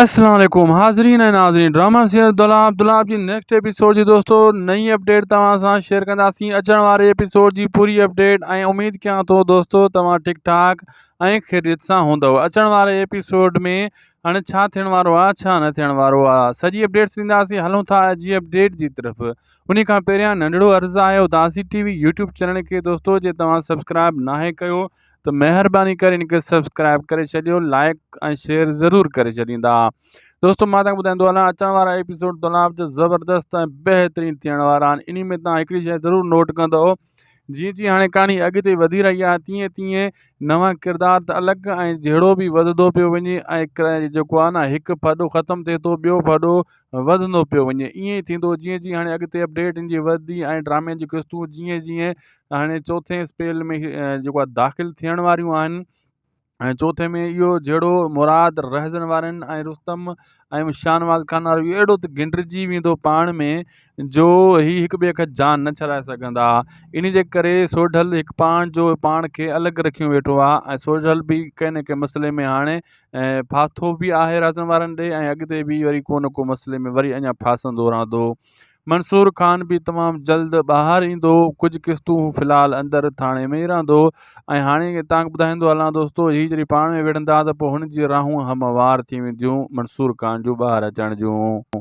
السلام عليڪم حاضرين ۽ ناظرين ڊراما سير دولاب دولاب جي نيڪسٽ ايپيسوڊ جي دوستو نئين اپڊيٽ توهان سان شيئر ڪنداسين اچڻ واري ايپيسوڊ جي پوري اپڊيٽ ۽ اميد ڪيان ٿو دوستو توهان ٺيڪ ٺاڪ ۽ خيريت سان هوندو اچڻ واري ايپيسوڊ ۾ هاڻي ڇا ٿيڻ وارو آ ڇا نه ٿيڻ وارو آ سڄي اپڊيٽس ڏينداسين هلون ٿا جي اپڊيٽ جي طرف انهي کان پهريان ننڍڙو عرض آهي اداسي ٽي وي يوٽيوب چينل کي دوستو جي توهان سبسڪرائب ناهي ڪيو ته مهرباني ڪري ان کي سبسڪرائب ڪري ڇڏيو لائڪ ۽ شيئر ضرور ڪري ڇڏيندا دوستو مان تان ٻڌائيندو هلان اچڻ وارا ايپيسوڊ تلاب جو زبردست ۽ بهترين ٿيڻ وارا آهن انهي ۾ تان هڪڙي شيء ضرور نوٽ ڪندو جيئن جيئن هاڻي ڪهاڻي اڳتي وڌي رهي آهي تيئن تيئن نوان ڪردار ته الڳ ۽ جهيڙو به وڌندو پيو وڃي ۽ جيڪو آهي نه هڪ ڦڏو ختم ٿئي ٿو ٻيو ڦڏو وڌندو پيو وڃي ائين ئي ٿيندو جيئن جيئن هاڻي اڳتي اپڊيٽ ان جي وڌندي ۽ ڊرامي جي قسطون جيئن جيئن هاڻي چوٿين اسپيل ۾ جيڪو آهي داخل ٿيڻ واريون آهن ۽ چوٿين ۾ اهو جهيڙو مراد رهزن وارن ۽ رستم ۽ شاهنواز خان وارو اهو اهڙو ته گنڊجي ويندو پاڻ ۾ جو هي هڪ ٻئي کان جان نه ڇڏائي سگهندا ان جي ڪري سوڍل هڪ پاڻ جو پاڻ کي الڳ رکيو ويٺو آهي ۽ سوڍل به ڪنهن نه ڪنهن مسئلي ۾ هاڻي ڦاٿو به آهي رهزن وارن ڏي ۽ اڳتي به وري ڪو نه ڪو مسئلي ۾ وري اڃا ڦاسندو رهندو منصور خان به تمام جلد ٻاهر ايندو ڪجهه قسطون هو في الحال اندر ٿاڻي ۾ ئي رهندو ۽ هاڻي تانکي ٻڌائيندو هلان دوستو هي جڏهن پاڻ ۾ وڙهندا ته پوء هن جي راهون هموار ٿي وينديون منصور خان جون ٻاهر اچڻ جون